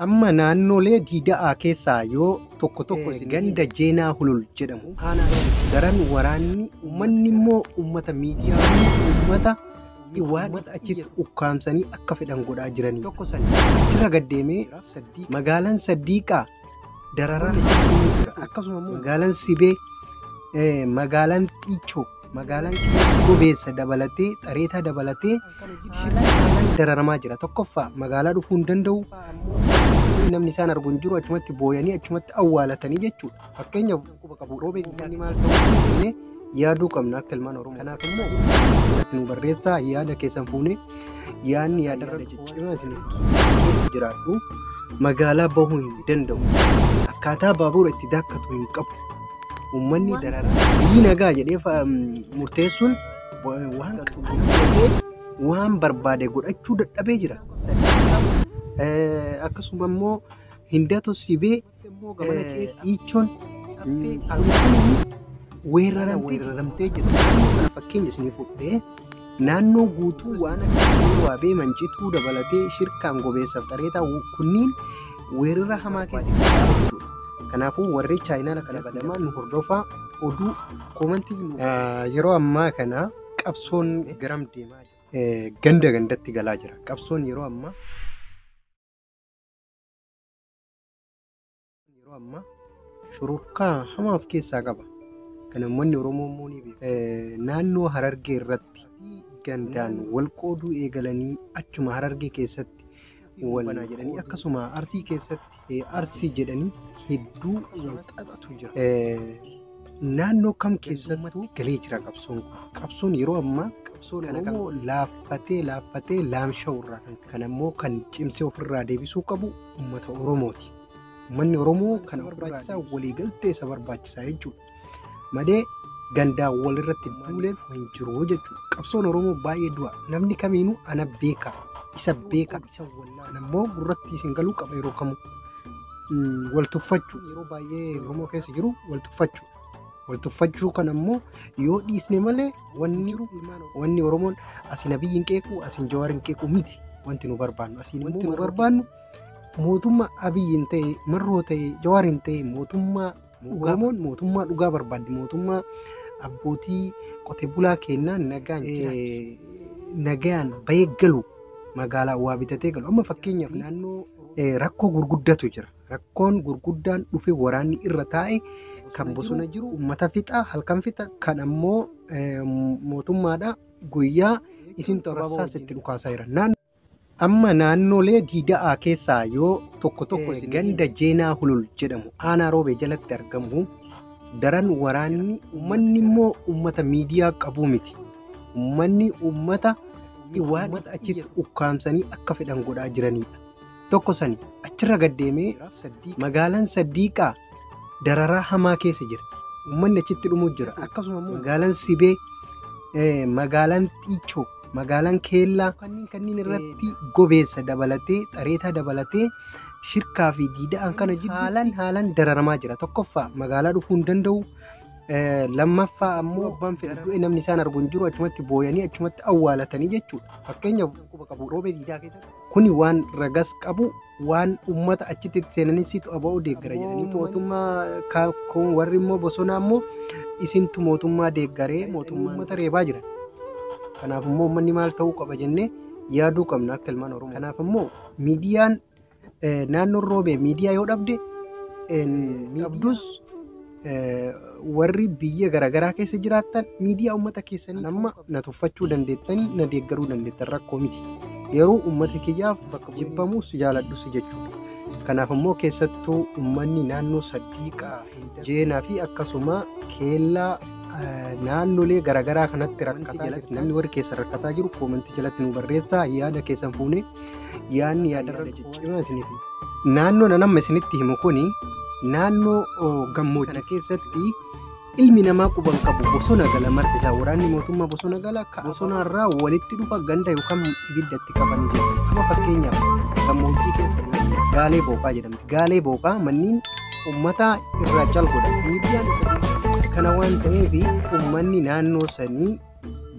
Amma naannoolee Diida'aa keessaa yoo tokko tokko isin ganda Jeenaa Hulul jedhamu aanaa Dawutti daran waraanni uummanni immoo uummata miidiyaa fi uummata Iwaadha achitti ukkaamsanii akka fedhan godhaa jiranii tokko san achirra gaddeemee magaalaan Saddiiqaa dararaa hedduu jira akkasuma immoo magaalaan Sibee eh, magaalaan Xiichoo Magaalaan keenya gobeessa dabalatee, xareetaa dabalatee shilaa kanaan dararamaa jira. Tokkoffaa magaalaa dhufuu hin danda'u. Namni isaan argu hin jiru. Achumatti booyanii achumatti awwaalatanii jechuudha. Fakkeenyaaf quba qabu roobee giddaanii maal ta'uu jennee yaaduu qabna akka ilmaan Oromoo. Kanaaf immoo irratti nu barreessaa yaada keessan fuunee Yaanni yaadarra ciccima isiniif keessa jiraadhu. Magaalaa bahuu hin danda'u. Akkaataa baabuura itti daakkatu hin qabu. Uummanni dararaa biyyi nagaa jedhee fa- mm, murteessuun wa- waan qaxxaamuree waan barbaade godhachuu dadhabee jira. Eh, Akkasuma immoo hindatoo sibee immoo gamana ceetti. Iichoon caffee halkanii weeraramtee jirti. Kana fakkeenya isinii fudhee naannoo guutuu waan akka waabee mancituu dabalatee shirkaan gobeessaaf xareetaa kunniin weerara hamaa keessa jechuudha. Kanaafuu warri chaayinaala kana badamaa nu hordofaa oduu koomantii yeroo ammaa kana qabsoon garam deemaa jira. Ganda gandatti galaa jira. Qabsoon yeroo ammaa Yeroo ammaa shururkaa hamaa of keessaa qaba. Kan uummanni Oromoo immoo ni beeku. Eh, Naannoo Harargee irratti gandaan wal qooduu eegalanii achuma Harargee keessatti wal banaa jedhanii akkasuma Arsii keessatti eh, Arsii jedhanii hedduu wal xaxatu jira. Eh, Naannoo kam keessattuu galee jira qabsoon kun. Qabsoon yeroo ammaa qabsoon Oromoo laaffatee laaffatee laamsha'u irraa kan ka'e. Kan ammoo kan cimsee ofirraa deebisuu qabu uummata Oromooti. Uummanni Oromoo kana barbaachisaa waliigaltee isa barbaachisaa jechuudha. Malee gandaa walirratti duuleef hin jiru jechuudha. Qabsoon Oromoo baay'ee du'a. Namni kamiinuu ana beeka, isa beeka, isa wallaalu. Ana immoo gurratti isin galuu qaba yeroo kamuu. Mm, Wal tuffachuu yeroo baay'ee Oromoo keessa jiru wal tuffachuu. wal tuffachuu kan ammoo yoo dhiisne malee wanni jiru wanni oromoon asiin abiyyi hin qeequ asiin jawaar hin qeequ miti wanti nu barbaannu asiin wanti nu barbaannu mootummaa abiyyi hin ta'e marroo ta'e jawaar hin ta'e mootummaa oromoon mootummaa dhugaa barbaaddi mootummaa abbootii qote bulaa kennaa nagaan nagaan bahee galu magaalaa waa bitatee galu amma fakkeenyaaf naannoo rakkoo gurguddatu jira. Rakkoon gurguddaan dhufe waraanni irra taa'e kan bosona jiru uummata fixa halkan fixa kan ammoo mootummaadha guyyaa isin xorassaas itti dhukaasaa jira. Amma naannolee diida'aa keessaa yoo tokko tokko ganda Jeenaa Hulul jedhamu aanaa roobee jalatti argamu daran waraanni uummanni immoo uummata miidiyaa qabuu miti. Uummanni uummata waan achitti ukkaamsanii akka fedhan godhaa jiranidha. tokko sani achirra gad deemee magaalaan Saddiiqaa dararaa hamaa keessa jirti. Uummanni achitti dhumuu jira. Akkasuma immoo magaalaan Sibee, eh, magaalaan Xiichoo, magaalaan Keellaa kanneen kanneen irratti gobeessa dabalatee, xareetaa dabalatee shirkaa fi diida'aan kana jidduu haalan haalan dararamaa jira. Tokkoffaa magaalaa dhufuu hin danda'u. Eh, Lammaffaa ammoo abbaan fedhe du'e namni isaan argu hin jiru achumatti booyanii achumatti awwaalatanii jechuudha. Fakkeenyaaf quba qabu roobee diidaa keessatti. Kuni waan ragas qabu waan ummata achitti itti seenanii situ aba'oo deeggara jedhanii mootummaa ka- kun warri immoo bosonaa immoo isintu mootummaa deeggaree mootummaa ummata reebaa jiran. Kanaaf immoo uummanni maal ta'uu qaba jennee yaaduu qabna akka ilmaan Oromoo. Kanaaf immoo miidiyaan eh, naannoon roobee miidiyaa yoo dhabde eh, dhabdus warri biyya garaagaraa keessa jiraattan miidiyaa uummata keessanii nama na tuffachuu dandeettanii na deeggaruu dandeettan rakkoo miti. Yeroo uummata kiyyaaf bakka jibbamus jaaladhus jechuudha. Kanaaf immoo keessattuu uummanni naannoo Saddiiqaa, Jeenaa fi akkasuma keellaa naannolee garaagaraa kanatti rakkataa jalatti namni warri keessan rakkataa jiru koomentii jalatti nu barreessaa yaada keessan fuunee yaadni yaadarra ciccimaa isiniif naannoo nan amma isinitti himu kun naannoo oh, gammoojjii kana keessatti ilmi namaa quban qabu bosona gala marti isaa waraanni mootummaa bosona gala ka bosonaarraa walitti dhufa ganda yookaan ibidda itti qaban jechuudha amma fakkeenyaaf gammoojjii keessa gaalee booqaa jedhamti gaalee booqaa manniin ummata irraa cal godha miidiyaan isa beekaa. kana waan ta'eef ummanni naannoo sanii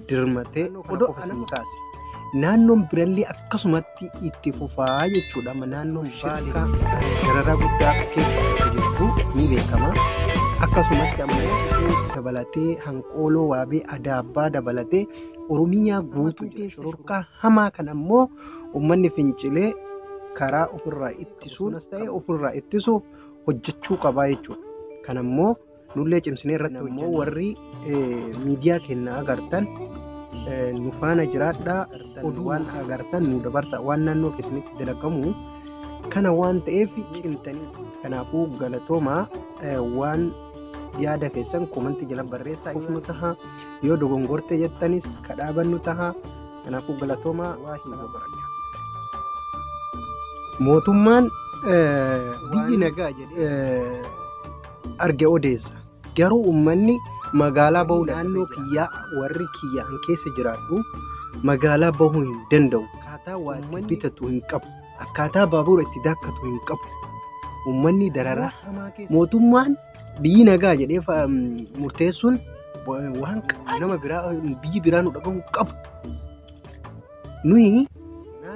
dirmatee odoo kana isin kaase. Naannoon birallee akkasumatti itti fufaa jechuudha. Amma Naannoon shirkaa dararaa guddaa keessa akka jirtu ni beekama. Akkasumatti amma cidhuu dabalatee hanqooloo waabee adaabbaa dabalatee Oromiyaa guutuu jira. Shororkaa hamaa kan ammoo uummanni fincilee karaa ofirraa ittisuunas ta'e ofirraa ittisuuf hojjechuu qabaa jechuudha. Kan ammoo Nullee cimsinee irratti ammoo warri miidiyaa keenya agartan nu faana jiraadhaa oduu waan agartan nu dabarsa waan naannoo keessanitti dalagamu kana waan ta'eef cimtanii kanaafuu galatoomaa waan yaada keessan komantii jala barreessaa ufnu taha yoo dogongorte jettanis kadhaabannu taha kanaafuu galatoomaa mootummaan biyyi nagaa jedhee arge odeessa. Garuu ummanni magaalaa bahuu naannoo kiyyaa warri kiyya an keessa jiraadhu magaalaa bahuu hin danda'u. Akkaataa waa itti bitatu hin qabu. Akkaataa baabuura itti daakkatu hin qabu. Ummanni dararaa hamaa keessa. Mootummaan biyyi nagaa jedhee fa- mm, murteessuun wa- waan qa- nama biraa biyyi biraa nu dhagahuu hin qabu. Nuyi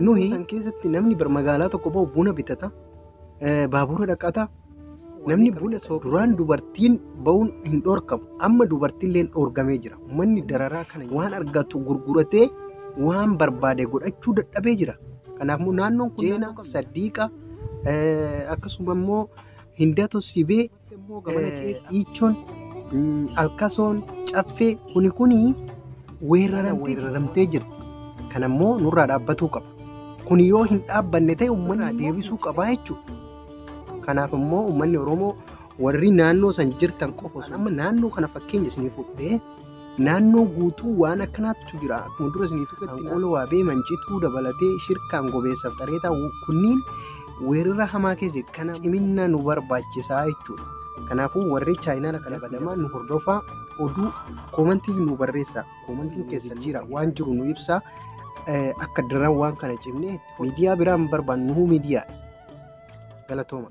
nuyi san keessatti namni bar magaalaa tokko bahu buna bitata, eh, baabuura dhaqata, namni buna soo duraan dubartiin ba'uun hin dhorkamu amma dubartiilleen dhorgamee jira manni dararaa kana waan argatu gurguratee waan barbaade godhachuu dadhabee jira kanaaf immoo naannoon kun jeena saddiiqa akkasuma immoo hindato sibee dhiichoon alkasoon caffee kuni kuni weeraramtee jirti kana immoo nurraa dhaabbatuu qaba kun yoo hin dhaabbanne ta'e uummanni deebisuu qabaa jechuudha. Kanaaf immoo uummanni Oromoo warri naannoo san jirtan qofa osoo amma naannoo kana fakkeenya isinii fudhee naannoo guutuu waan akkanaatu jira akkuma dura isinii tuqetti hanqoola waabee mancituu dabalatee shirkaan gobeessaaf xareetaa kunniin weerara hamaa keessa kana ciminna nu barbaachisaa jechuudha. Kanaafuu warri chaayinaala kana badamaa nu hordofaa oduu koomantii nu barreessaa koomantiin keessa jira waan jiru nu ibsaa akka daran waan kana cimnee miidiyaa biraa hin barbaannu miidiyaa Galatooma.